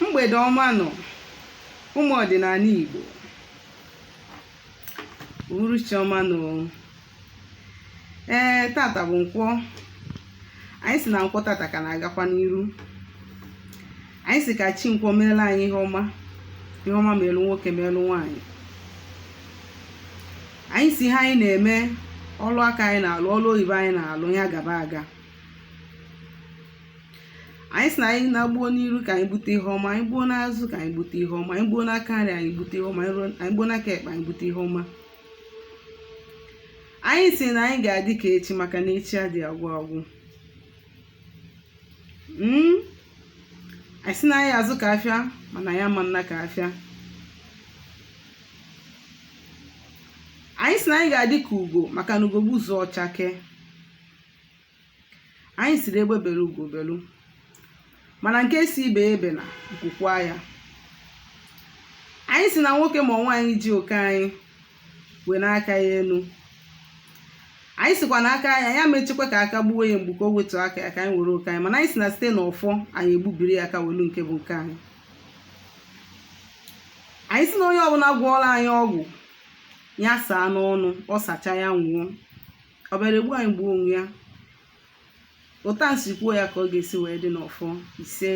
mgbede ọma nụ ụmụ ọdịnanị Igbo uhuruchi ọma nụ ee tata bụ nkwọ anyị sị na nkwọ tata ka na-agakwa n'iru anyị sị ka chi nkwọ meelu anyị ihe ọma ihe ọma meelu nwoke meelu nwaanyị anyị sị ihe anyị na-eme ọlụ aka anyị na-alụ ọlụ oyibo anyị na-alụ ya gaba aga anyị sị na anyị na-egbu n'iru ka anyị gbute ihe ọma anyị gbuo n'azụ ka anyị gbute ihe ọma anyị gbuo n'aka nri anyị gbute ihe ọma anyị gbuo n'aka ekpe anyị gbute ihe ọma anyị sị na anyị ga-adị ka echi maka na echi adịghị agwụ agwụ hmm? anyị sị na anyị azụ ka afịa mana anyị ama ana ka afịa anyị sị na anyị ga-adị ka ugo maka na ugo gbuzuo ọ chake anyị sịrị egbe belu ugo belu mana nke sị ibe ebena nku kwaa ya anyị sị na nwoke ma nwaanyị ji oke anyị wenie aka ya enu anyị sịkwa na anyị ama echekwa ka aka gbuo ya mgbu ka o wetu aka ya ka anyị were oke anyị mana anyị sị na site na ọfọ anyị egbubiri ya aka welu nke bụ nke anyị anyị sị na onye ọbụla gwọọlụ anyị ọgwụ ya saa n'ọnụ ọ sacha ya nwụọ ọ bịara egbu anyị gbuo onwe ya ụta nsi kwuo ya ka ọ ga-esi wee dị n'ọfọ ise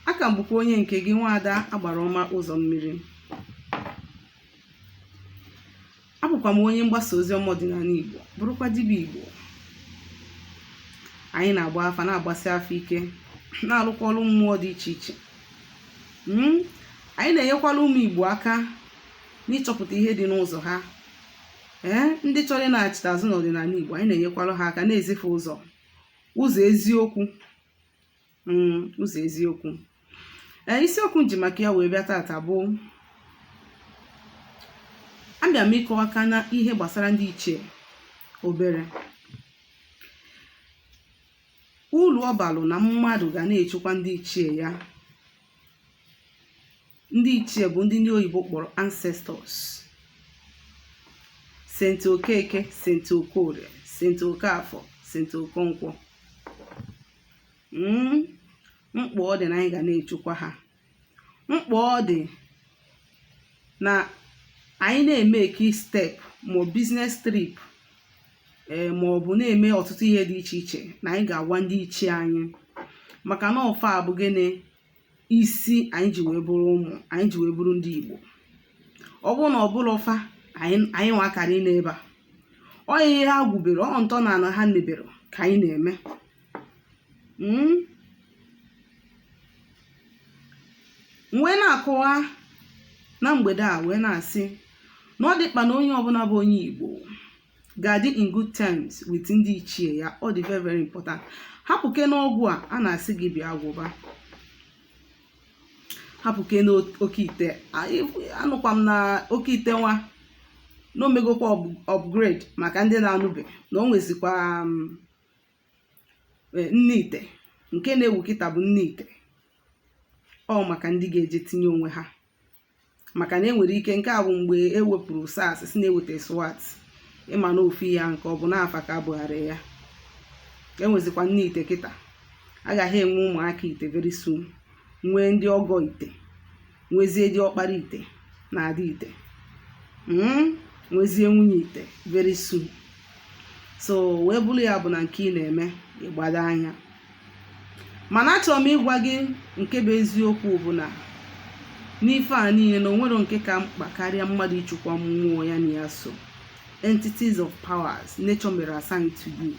a ka m bụkwa onye nke gị nwaada agbara ọma ụzọ mmiri abụkwa m onye mgbasa ozi ọma ọdịnanị igbo bụrụkwa dibịa igbo anyị na-agba afa na-agbasi afa ike na-alụkwa ọlụ mmụọ dị iche iche anyị na-enyekwalụ ụmụ igbo aka n'ịchọpụta ihe dị n'ụzọ ha ee ndị chọrọ ịnaghachite azụ n'ọdịnanị Igbo anyị na-enyekwara ha aka na-ezi fa ụzọ ụzọ eziokwu mm, ụzọ eziokwu ee isiokwu m ji maka ya wee bịa tata bụ abịa m ịkọwa aka na ihe gbasara ndị ichie obere uru ọ balụ na mmadụ ga na-echekwa ndị ichie ya ndị ichie bụ ndị ndị oyibo kpọrọ ancestors saint okeke saint okorie saint okafọ saint okonkwọ hmm? mkpa ọ dị na anyị ga na-echukwa ha mkpa ọ dị na anyị na-emake step ma business trip eh, ma ọ bụ na-eme ọtụtụ ihe dị iche iche na anyị ga-agwa ndị ichie anyị maka na ọ fa bụ gịnị isi anyị ji wee bụrụ ụmụ anyị ji wee bụrụ ndị Igbo ọ bụrụ na ọ bụrọ fa anyị nwa akara anọ ebe a ọ ihe ha gwubere ọ ntọ na ana ha mebere ka anyị na-eme hmm? wee na-akọwa na mgbede a wee na-asị na ọ dị mkpa na onye ọbụla bụ onye Igbo ga-adị in good terms with ndị ichie ya ọ dị very very important hapụkene ọgwụ a a na-asị gị bịa gwọba hapụkene oke ite anụkwa m na oke ite nwa na o megokwa upgrade maka ndị na-anụbe na o nwezikwa um, e, nne ite nke na-ewu kịta bụ nne ite ọ maka ndị ga-eje tinye onwe ha maka na enwere ike nke a bụ mgbe e wepụrụ SARS si na-eweta SWAT ị ma na ofu ihe nke ọ bụ n'afa ka a bụgharị ya enwezikwa nne ite kịta agaghị enwe ụmụaka ite very soon nwee ndị ọgọ ite nwezie diọkpara ite na ada ite hmm? nwezie nwunye ite very soon so wee bụrụ ya bụ na nke ị na-eme ị gbado anya mana achọrọ m ịgwa gị nke bụ eziokwu bụ na n'ife a niile na o nwerọ nke ka mkpa karịa mmadụ ịchịkwa mmụọ ya na ya so entities of powers nature mere assign to you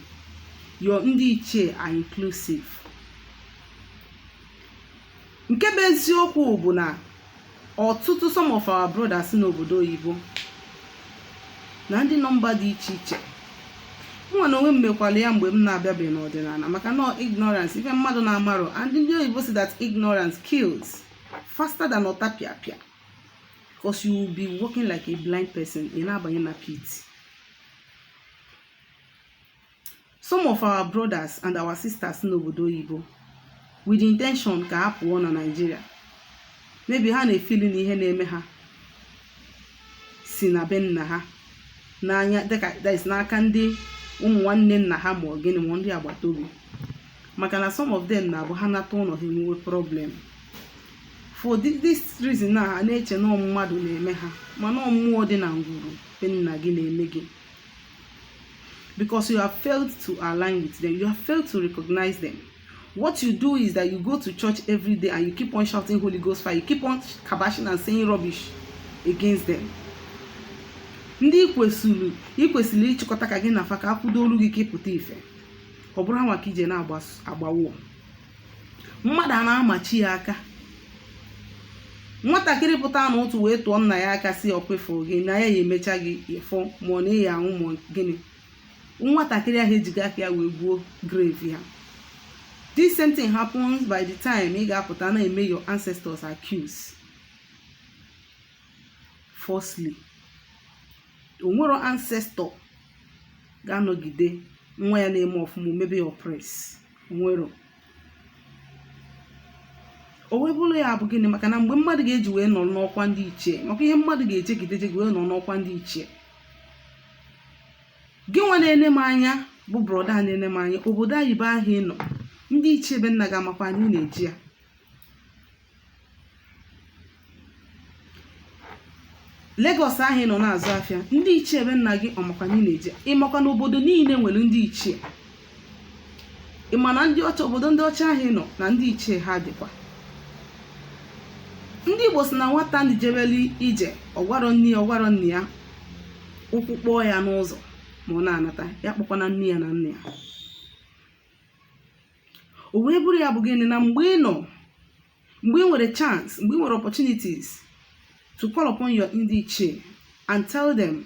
your ndị ichie are inclusive nke bụ eziokwu bụ na ọtụtụ some of our brothers n'obodo oyibo na ndị nọ mba dị iche iche mụnwa n'onwe m mekwalụ ya mgbe m na-abịabeghị n'ọdịnala maka na ignorance ife mmadụ na-amarọ and ndị oyibo sị that ignorance kills faster than ọtapịapịa because you will be walking like a blind person ị na-abanye na pit Some of our brothers and our sisters n'obodo oyibo with the intention ka ha pụọ na Nigeria maybe ha na-efili na ihe na-eme ha si na be nna ha n'anya dịka that is n'aka ndị ụmụ nwanne nna ha ma ọ gịnị ma ndị agbata obi maka na some of them na-abụ ha nata ụlọ ha enwee problem for thi- this reason na ha na-eche na ọ mmadụ na-eme ha mana ọ mmụọ dị na ngwuru be nna gị na-eme gị because you have failed to align with them you have failed to recognize them what you do is that you go to church every day and you keep on shouting holy ghost fire you keep on kabashing and saying rubbish against them ndị i kwesịrị ịchịkọta ka gị na fa ka a kwụdoolụ gị ka ị pụta ife ọ bụrụ ha nwa ka ị je na-agbawo mmadụ a na-amachi ya aka nwatakịrị pụta n'ụtụtụ wee tụọ nna ya aka si ọkwefu gị na ya ya emecha gị ife mana ịya anwụ ma gịnị nwatakịrị ahụ ejigo aka ya wee gwuo grave ya this same thing happens by the time ị ga-apụta na-eme your ancestors accuse falsely onwero ancestor ga-anọgide nwa ya na-eme ọfụma o mebe ya oppress nwero o wee bụrụ ya bụ gịnị maka na mgbe mmadụ ga-eji wee nọrọ n'ọkwa ndị ichie maka ihe mmadụ ga-ejegide jegide wee nọrọ n'ọkwa ndị ichie gị nwa na-ene m anya bụ brọda na-ene m anya obodo oyibo ahụ ị nọ ndị ichie be nna gị amakwa na ị na-eje ya Lagos ahụ ị nọ na-azụ afịa ndị ichie be nna gị ọmakwa na ị na-eje ịmakwa na obodo niile nwere ndị ichie ị ma na ndị ọcha obodo ndị ọcha ahụ ị nọ na ndị ichie ha dịkwa ndị Igbo si na nwata ndị jebelu ije ọgwarọ nne ya ọgwarọ nna ya ụkwụ kpọọ ya n'ụzọ ma ọ na-anata ya akpọkwana nne ya na nna ya o wee bụrụ ya bụ gịnị na mgbe ị nọ mgbe ị nwere chance mgbe ị nwere opportunities to call upon your ndị ichie and tell them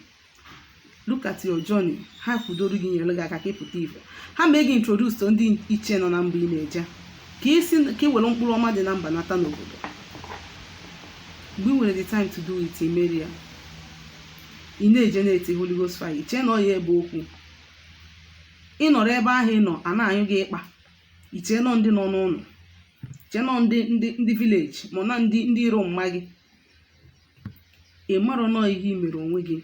look at your journey ha kwudoro gị nyere gị aka ka ịpụta ife ha mee gị introduce to ndị ichie nọ na mba ị na-eje ka isi ka ị were mkpụrụ ọma dị na mba nata n'obodo mgbe ị nwere the time to do it imero ya ị na-eje na-eti Holy Ghost fire iche na ọ ya ebe okwu ị nọrọ ebe ahụ ị nọ a na-anyụ gị ịkpa ichee na ọ ndị nọ n'ụlọ ichee na ọ ndị ndị ndị village ma na ndị ndị iro mma gị ị marọ na ọ ihe i mere onwe gị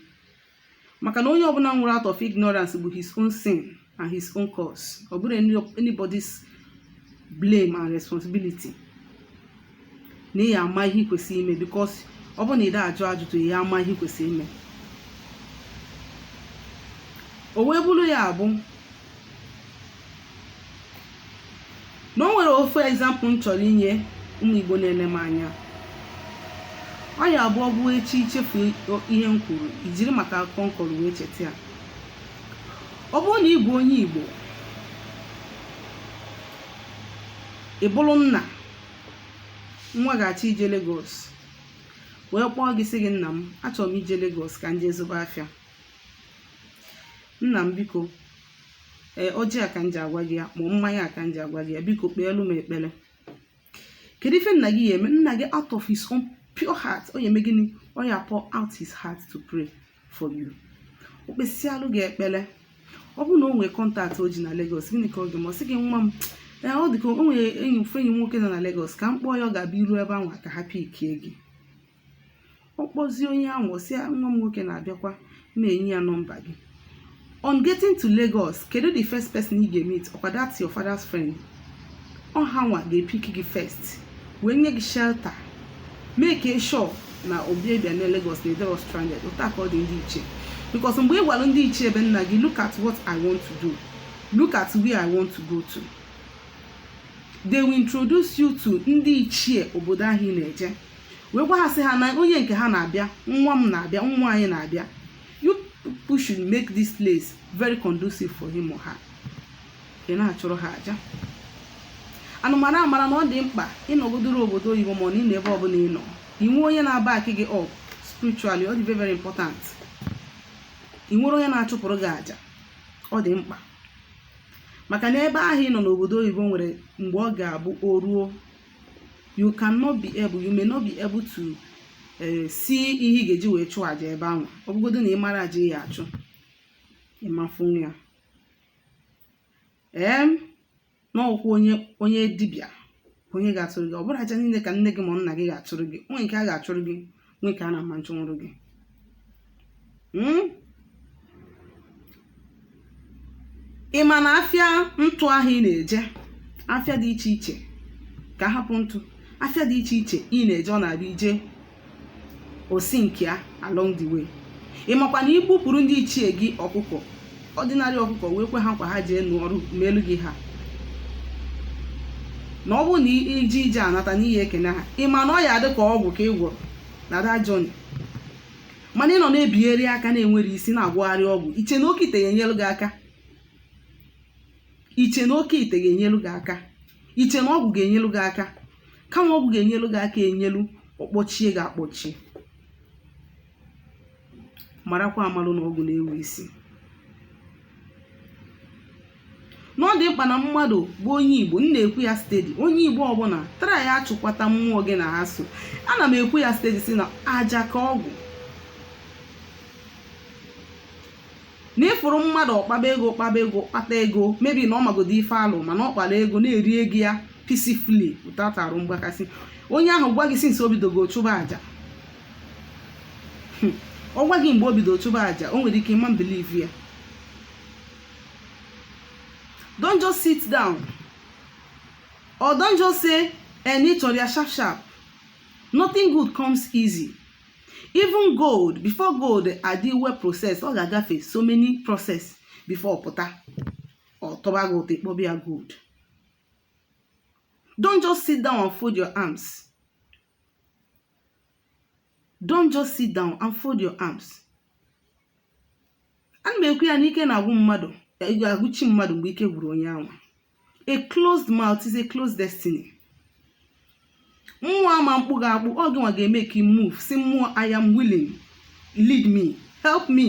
maka na onye ọbụla nwụrụ out of ignorance bụ his own sin and his own cause ọ bụrọ anybody's blame and responsibility na ị ya ama ihe ị kwesịrị ime because ọ bụrụ na ị da ajụ ajụjụ ị ya ama ihe ị kwesịrị ime o wee bụrụ ya bụ na o nwere ofu example m chọrọ inye ụmụ igbo na-ene m anya ọ ya abụ ọ bụ echi ichefu ihe m kwuru ijiri maka akụkọ m kọrọ wee cheta ya ọ bụrụ na ị bụ onye igbo ị bụrụ nna nwa gị achọọ ije Lagos wee kpọọ gị sị gị nna m achọrọ m ije Lagos ka m jee zụba afịa nna m biko ee ọjị a ka m ji agwa gị ya ma mmanya a ka m ji agwa gị ya biko kpeelu m ekpere kedu ife nna gị ya eme nna gị out of his own pure heart ọ ya eme gịnị ọ ya pour out his heart to pray for you o kpesịalụ gị ekpere ọ bụrụ na o nwere contact o ji na Lagos gịnị ka ọ ga-eme ọ sị gị nwa m ee ọ dị ka o nwere enyi ofu enyi m nwoke nọ na Lagos ka m kpọọ ya ọ ga-abịa i ru ebe anwa ka ha pikie gị ọ kpọzie onye ahụ ọ sị ya nwa m nwoke na-abịakwa na-enye ya nọmba gị on getting to lagos kedu the first person ị ga-emeet ọkwa that's your father's friend ọ ha nwa ga-epick gị first wee nye gị shelter make sure na ọ bụ ị bịa na lagos na ị dịrọ stranded otu a ka ọ dị ndị ichie because mgbe ị gwara ndị ichie be nna gị look at what i want to do look at where i want to go to they will introduce you to ndị ichie obodo ahụ ị na-eje wee gwa ha sị ha na onye nke ha na-abịa nwa m na-abịa nwa anyị na-abịa you people should make this place very conducive for him or her ị na-achụrụ ha aja unu mara amara na ọ dị mkpa ị nọgodoro obodo oyibo ma ọ na ị nọ ebe ọbụla ị nọ inwe onye na-aback gị up spiritually ọ dị very very important ị nwere onye na-achụpụrụ gị aja ọ dị mkpa maka na ebe ahụ ị nọ n'obodo oyibo nwere mgbe ọ ga-abụ o ruo you cannot be able you may not be able to eh, see ihe ị ga-eji wee chụọ aja ebe anwa ọ bụgodo na ị mara aja ị ya achụ ị ma-afụnwu ya ee na ọ bụkwụ onye onye dibịa onye ga-achụrụ gị ọ bụrọ aja niile ka nne gị ma nna gị ga-achụrụ gị o nwe nke a ga-achụrụ gị nwee nke a na-ama achụnwụrụ gị hmm? ị ma na afịa ntụ ahụ ị na-eje afịa dị iche iche ka a hapụ ntụ afịa dị iche iche ị na-eje ọ na-abụ i je o sinkia along the way ị makwa na i gbupụrụ ndị ichie gị ọkụkọ ordinary ọkụkọ wee kwe ha nkwa ha jeenu ọrụ melu gị ha na ọ bụrụ na i je ije a nata na ị ya ekene ha ị ma na ọ ya adị ka ọgwụ ka ị gwọrọ na that journey mana ị nọ na-ebigharị aka na-ewere isi na-agwọgharị ọgwụ i che na oke ite ga-enyelu gị aka i che na oke ite ga-enyelu gị aka i che na ọgwụ ga-enyelu gị aka kama ọgwụ ga-enyelu gị aka enyelu ọ kpọchie gị akpọchie marakwa amalụ na ọgwụ na-ewe isi na ọ dị mkpa na mmadụ bụ onye igbo m na-ekwu ya steady onye igbo ọbụla trya achụkwata mmụọ gị na ha so ana m ekwu ya steady sị na aja ka ọgwụ na ị fụrụ mmadụ ọ kpaba ego kpaba ego kpata ego maybe na ọ magodo ife alụ mana ọ kpara ego na-eri ego ya peacefully without arụ mgbakasị onye ahụ gwa gị since o bidogo chụba aja hmm. ọ gwa gị mgbe o bido chụba aja o nwere ike ị ma believe ya don't just sit down or don't just say eh na ị chọrọ ya sharp sharp nothing good comes easy even gold before gold adị well process ọ ga-agafe so many process before ọ pụta ọ tọba gị ụtọ ịkpọba ya gold. Don't just sit down and fold your arms. don't just sit down and fold your arms ana m ekwu ya na ike na-agwụ mmadụ agwụ chi mmadụ mgbe ike gwụrụ onye ahụ a closed mouth is a closed destiny mmụọ ama mkpụ gị akpụ ọ gịnwa ga-emake move sị mmụọ i am willing lead me help me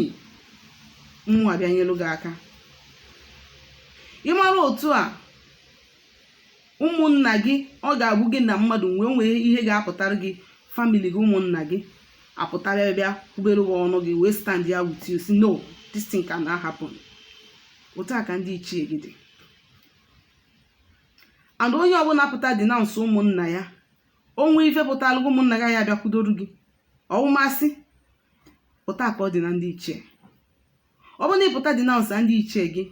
mmụọ abịa nyelu gị aka ị mara otu a ụmụnna gị ọ ga-abụ gị na mmadụ nwee nwee ihe ga-apụtara gị family gị ụmụnna gị apụta bịa kwubere gị ọnụ gị wee stand ya with you sị no this thing can not happen otu a ka ndị ichie gị dị and onye ọbụla pụta denounce ụmụnna ya o nwee ife pụtara gị ụmụnna gị ya-abịa kwudoru gị ọwụmasị otu a ka ọ dị na ndị ichie ọ bụrụ na ị pụta denounce ndị ichie gị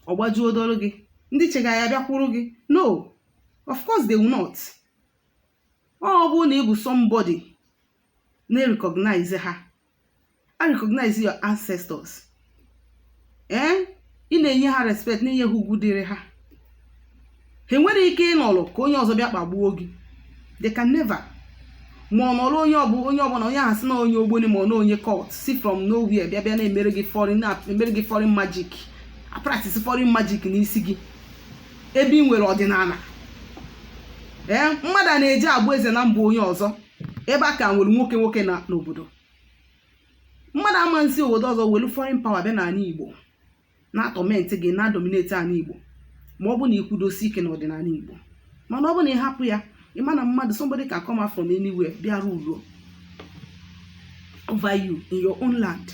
ọ gbajuo dọrụ gị ndị ichie gị ya-abịakwuru gị no of course they will not ọ bụrụ na ị bụ somebody na-recognize ha a recognize your ancestors ee ị na-enye ha respect na-enye ha ugwu dịrị ha ha nwere ike ịnọrọ ka onye ọzọ bịa kpagbuo gị they can never ma ọ nọrọ onye ọbụ onye ọbụla onye ahụ sị na onye ogboni ma ọ na onye cult si from nowhere bịa bịa na-emere gị foreign na-emere gị foreign magic practice foreign magic n'isi gị ebe ị nwere ọdịnala ee mmadụ a na-eji abụ eze na mba onye ọzọ ebe a ka nwere nwoke nwoke na n'obodo mmadụ ama nsi obodo ọzọ welu foreign power bịa n'ala igbo na-atorment gị na-adominate ala Igbo ma ọ bụ na i kwudosi ike n'ọdịnala Igbo mana ọ bụ na ị hapụ ya ị ma na mmadụ somebody can come out from anywhere bịa rule over you in your own land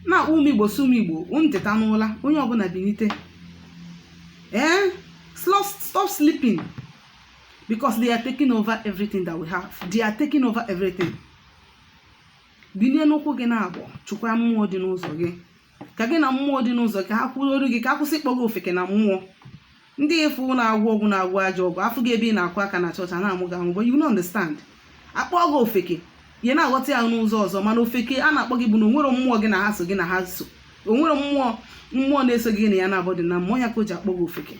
na-akpọ ụmụ Igbo sị ụmụ Igbo unu teta n'ụla onye ọbụla binite ee stop sleeping because they are taking over everything that we have they are taking over everything binie n'ụkwụ gị naabọ chụkwaa mmụọ dị n'ụzọ gị ka gị na mmụọ dị n'ụzọ ka ha kwuoru gị ka a kwụsị ịkpọ gị ofeke na mmụọ ndị ị fụ na-agwọ ọgwụ na-agwọ ajọ ọgwụ afụ gị ebe ị na-akụ aka na chọọchị a na-amụ gị amụ but you don't understand a kpọọ gị ofeke ị na-aghọta ya n'ụzọ ọzọ mana ofeke a na-akpọ gị bụ na o nwerọ mmụọ gị na ha so gị na ha so o nwerọ mmụọ mmụọ na-eso gị na ya naabọ dị na mmụọ ya ka o ji akpọ gị ofeke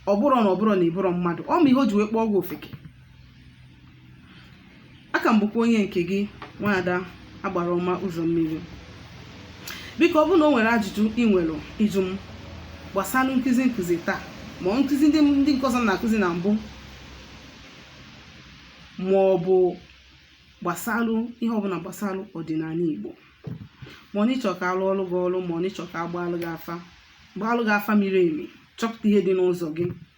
ọ bụrụ na ọ bụrụ na ị bụrụ mmadụ ọ ma ihe o ji wee kpọọ gị ofeke a ka m bụkwa onye nke gị nwaada agbara ọma ụzọ mmiri biko ọ bụrụ na o nwere ajụjụ ị nwere ịjụ m gbasalụ nkụzi nkụzi taa ma ọ nkụzi ndị nke ọzọ m na-akụzi na mbụ ma ọ bụ gbasalụ ihe ọbụla gbasalụ ọdịnala Igbo ma ọ n'ị chọ ka a lụọlụ gị ọlụ ma ọ n'ị chọ ka a gbaalụ gị afa miri emi chọpụta ihe dị n'ụzọ gị